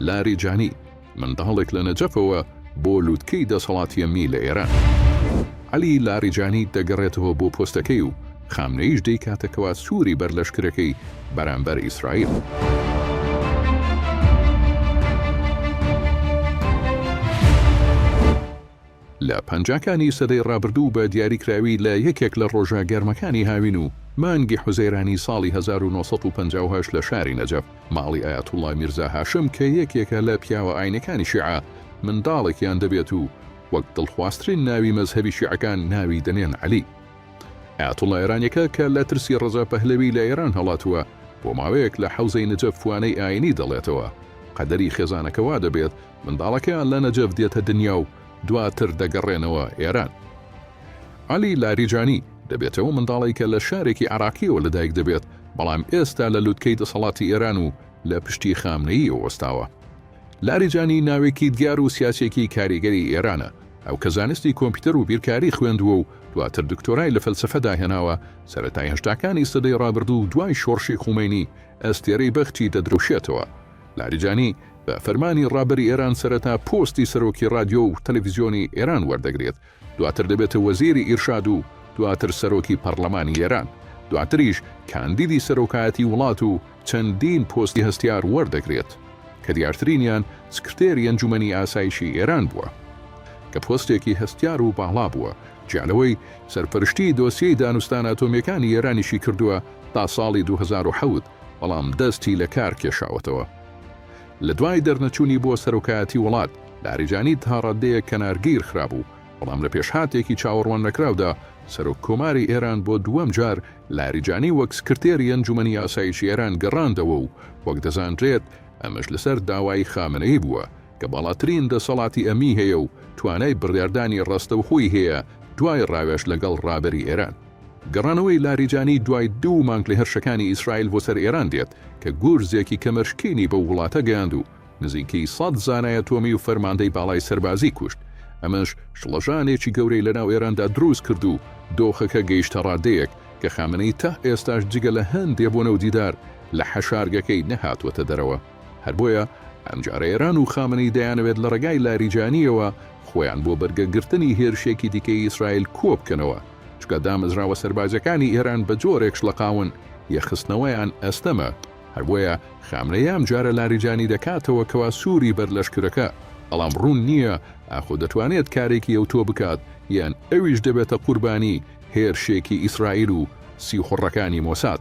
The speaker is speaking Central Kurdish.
لاریجانی، منداڵێک لە نەجەفەوە بۆ لووتکەی دەسەڵاتی ئەمنی لە ئێران. عەلی لاریجانی دەگەڕێتەوە بۆ پۆستەکەی و خامنەییش دەیکاتە کەوا سووری بەر لەشکرەکەی بەرامبەر ئیسرائیل. لە پەنجاکانی سەدەی ڕابردوو بە دیاریکراوی لە یەکێک لە ڕۆژە گەرمەکانی هاوین و مانگی حوزەیرانی ساڵی هەزار و نۆ سەد و پەنجا و هەشت لە شاری نەجەف ماڵی ئایەتوڵڵا میرزا هاشم کە یەکێکە لە پیاوە ئاینەکانی شیعە منداڵێکیان دەبێت و وەک دڵخوازترین ناوی مەزهەبی شیعەکان ناوی دەنێن عەلی ئایەتوڵڵا ئێرانیەکە کە لە ترسی ڕەزا پەهلەوی لە ئێران هەڵاتووە بۆ ماوەیەک لە حەوزەی نجەف وانەی ئاینی دەڵێتەوە قەدەری خێزانەکە وا دەبێت منداڵەکەیان لە نەجەف دێتە دنیا و دواتر دەگەڕێنەوە ئێران. عەلی لاریجانی، دەبێتەوە منداڵێکە لە شارێکی عێراقییەوە لەدایک دەبێت، بەڵام ئێستا لە لوتکەی دەسەڵاتی ئێران و لە پشتی خامنەییەوە وەستاوە. لاریجانی ناوێکی دیار و سیاسییەکی کاریگەری ئێرانە. ئەو کە زانستی کۆمپیوتەر و بیرکاری خوێندووە و دواتر دکتۆرای لە فەلسەفەدا هێناوە، سەرەتای هەشتاکانی سەدەی ڕابردوو و دوای شۆڕشی خومەینی، ئەستێرەی بەختی دەدرەوشێتەوە. لاریجانی بە فەرمانی ڕابەری ئێران سەرەتا پۆستی سەرۆکی ڕادیۆ و تەلەفیزیۆنی ئێران وەردەگرێت، دواتر دەبێتە وەزیری ئیرشاد و دواتر سەرۆکی پەڕلەمانی ئێران، دواتریش کاندیدی سەرۆکایەتی وڵات و چەندین پۆستی هەستیار وەردەگرێت، کە دیارترینیان سکرتێری ئەنجومەنی ئاسایشی ئێران بووە، کە پۆستێکی هەستیار و باڵا بووە، جیا لەوەی سەرپەرشتیی دۆسیەی دانوستانە ئەتۆمییەکانی ئێرانیشی کردووە تا ساڵی دوو هەزار و حەوت. بەڵام دەستی لە کار کێشاوەتەوە. لە دوای دەرنەچوونی بۆ سەرۆکایەتی وڵات، لاریجانی تا ڕاددەیەک کەنارگیر خرابوو، بەڵام لە پێشهاتێکی چاوەڕواننەکراودا سەرۆک کۆماری ئێران بۆ دووەم جار لاریجانی وەک سکرتێری ئەنجومەنی ئاسایشی ئێران گەڕاندەوە و وەک دەزانرێت ئەمەش لەسەر داوای خامنەیی بووە کە باڵاترین دەسەڵاتی ئەمنی هەیە و توانای بڕیاردانی ڕاستەوخۆی هەیە دوای ڕاوێژ لەگەڵ ڕابەری ئێران. گەڕانەوەی لاریجانی دوای دوو مانگ لە هێرشەکانی ئیسرائیل بۆ سەر ئێران دێت کە گورزێکی کەمەرشکێنی بەو وڵاتە گەیاند و نزیکەی سەد زانای ئەتۆمی و فەرماندەی باڵای سەربازی کوشت، ئەمەش شڵەژانێکی گەورەی لەناو ئێراندا دروست کرد و دۆخەکە گەیشتە ڕادەیەک کە خامنەیی تا ئێستاش جگە لە هەندێ بۆنە و دیدار لە حەشارگەکەی نەهاتووەتە دەرەوە. هەر بۆیە ئەمجارە ئێران و خامنەیی دەیانەوێت لە ڕێگای لاریجانییەوە خۆیان بۆ بەرگەگرتنی هێرشێکی دیکەی ئیسرائیل کۆبکەنەوە. چونکە دامەزراوە سەربازیەکانی ئێران بە جۆرێک شڵەقاون یە خستنەوەیان ئەستەمە هەر بۆیە خامنەیی ئەم جارە لاریجانی دەکاتەوە کەوا سوری بەر لەشکرەکە بەڵام ڕوون نییە ئاخۆ دەتوانێت کارێکی ئەوتۆ بکات یان ئەویش دەبێتە قوربانی هێرشێکی ئیسرائیل و سیخوڕەکانی مۆساد.